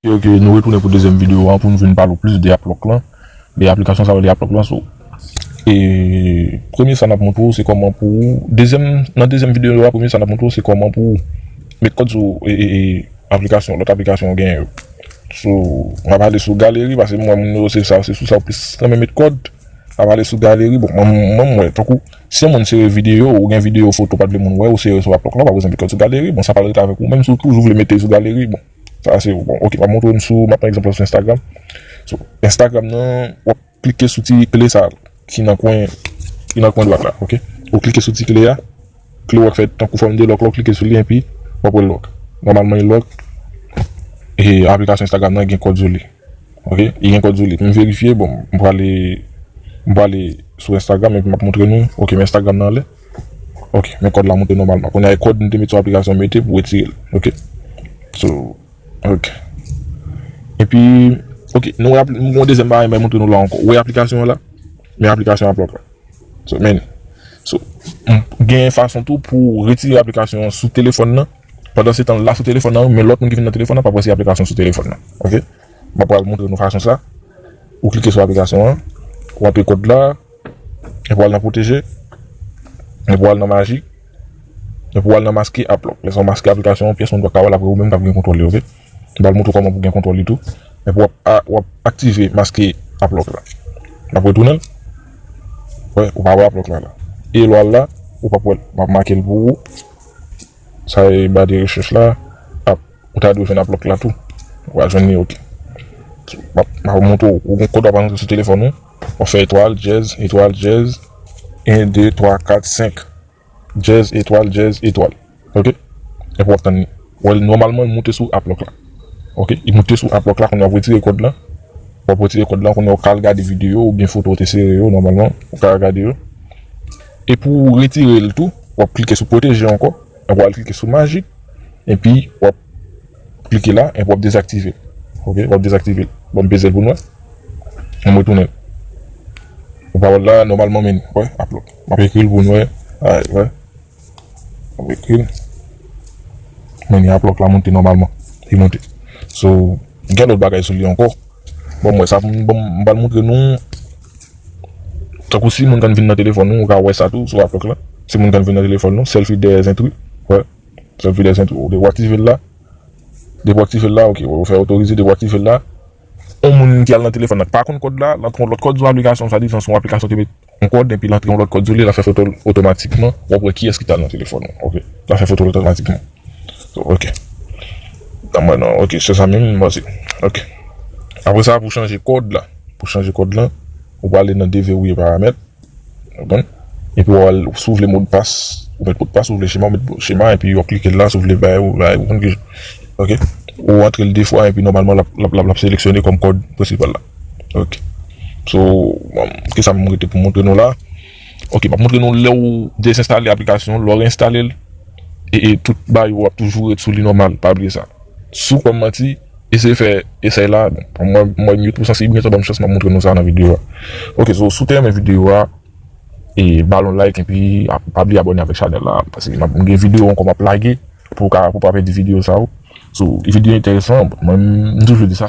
Ok nou retounen pou dezyèm videyo an pou nou vin pale ou plis de Aplòk lan, de aplikasyon sa yo rele Aplòk lan so e premye sa n ap montre ou se kòman pou ou dezyèm nan dezyèm videyo a premye sa n ap montre ou se kòman pou ou met kòd sou e aplikasyon lòt aplikasyon ou genyen yo so m ap ale sou galeri paske m wè moun yo se sa se sou sa yo plis renmen met kòd. Pa pale sou galeri bon mwen mwen tankou si yon moun sere video ou gen video foto ou pa t vle moun wè ou sere sou aplòk la ou pa bezwen mete l sou galeri bon sa pral rete avèk ou menm si w toujou vle mete l sou galeri bon sa se bon ok map montre w sou map pran egzanp la sou Instagram sou Instagram nan wap klike sou ti kle sa ki nan kwen ki nan kwen dwat la ok ou klike sou ti kle a. Kle w ap fèt tankou fòm de lòk, lè w klike sou li enpi w ap wè lòk. Nòmalman e lòk e aplikasyon Instagram nan gen kòd sou li. Ok li gen kòd sou li pou m verifye bon m prale m prale sou Instagram epi m ap montre nou ok men Instagram nan anlè ok men kòd la monte nòmalman kounye a e kòd m te met sou aplikasyon mete pou wetire l ok so ok epi ok nou wè m gen yon dezyèm bagay m bay montre nou la ankò ou wè aplikasyon an la men aplikasyon an ap lòk la. Gen fason tou pou w retire aplikasyon an sou telefòn nan. Pandan se tan l la sou telefòn nan, men lòt moun ki vin nan telefòn nan p ap wè se aplikasyon sou telefòn nan. Ok, m ap pral montre nou fason sa. Ou klike sou aplikasyon an, ou antre kòd la, epi w al nan pwoteje, epi w al nan maji, epi w al nan maske app lòk. Lè sa w maske aplikasyon an, pyès moun pa ka wè l, apre ou menm k ap gen kontwòl li. Ok. Li pral montre w kòman pou gen kontwòl li tou. Epi w ap aktive maske app lock la. N ap retounen l. Wè, ou pa wè app lock la la. E lè w al la, ou p ap wè l. M ap make l pou ou. Sa e ba de rechèch la. App, ou ta dwe jwenn app lock la tou. Ou pral jwenn li ok. M ap montre w. Ou gen kòd w ap rantre sou telefòn ou. W ap fè etwal, dyèz, etwal, dyèz. 1, 2, 3, 4, 5. Jazz etwal jazz etwal ok epi wap tann li wèl nòmalman li moute sou aplòk la ok li moute sou aplòk la kounye wap retire kòd lan wap retire kòd lan kounye wap ka al gade videyo oubyen foto ou te sere yo nòmalman ou ka al gade yo e pou ou retire l tou wap klike sou pwoteje ankò epi wal klike sou majik epi wap klike la epi wap dezaktive l ok wap dezaktive l bon m peze l pou nou wè m retounen ou pa wèl la nòmalman menn wè aplòk. Map ekril pou n wè alright wè map ekril men ni aplòk la moute nòmalman li moute so gen lòt bagay sou li ankò bon m wè sa m pral moutre nou tankou si moun kan vin nan telefòn nou ou ka wè sa tou sou aplòk la si moun kan vin nan telefòn nou sèlfi dèyè zentri wè sèlfi dèyè zentri ou aktive l la depi w aktive l la ok wè ou fè otorize depi w aktive l la on moun ki al nan telefòn nan k pa konn kòd la l ap pran lòt kòd yon aplikasyon swadizan se yon aplikasyon ki met. Yon kòd epi l antre yon lòt kòd sou li, l ap fè foto l otomatikman, w ap wè kiyès ki ta nan telefòn ou ok, l ap fè foto l otomatikman ok, nan mwen nan ok se sa menm m panse ok. Aprè sa pou chanje kòd la, pou chanje kòd la ou prale nan deverrouiller paramèt ou konprann epi w al si w vle modpas ou met modpas si w vle chema ou met chema epi w ap klike la si w vle bay ou bay ou konprann ok ou antre l 2 fwa epi nòmalman l ap seleksyone kòm kòd prensipal la. Ok So kisa m rete pou montre nou la Ok m ap montre nou lè ou dezenstale aplikasyon an lè w reenstale l e tout bagay yo ap toujou ret sou li nòmal pa bliye sa Sou kwè m manti eseye fè esèy la Mwen m yo twou sansib men sa ban m chans m ap montre nou sa nan videyo a Ok so si w te renmen videyo a e ba l yon like epi pa bliye abòne avèk chanèl la paske m gen videyo ankò m ap lage. Pou w ka pou w pa pèdi video sa yo. So video entèresan mwen m toujou di sa.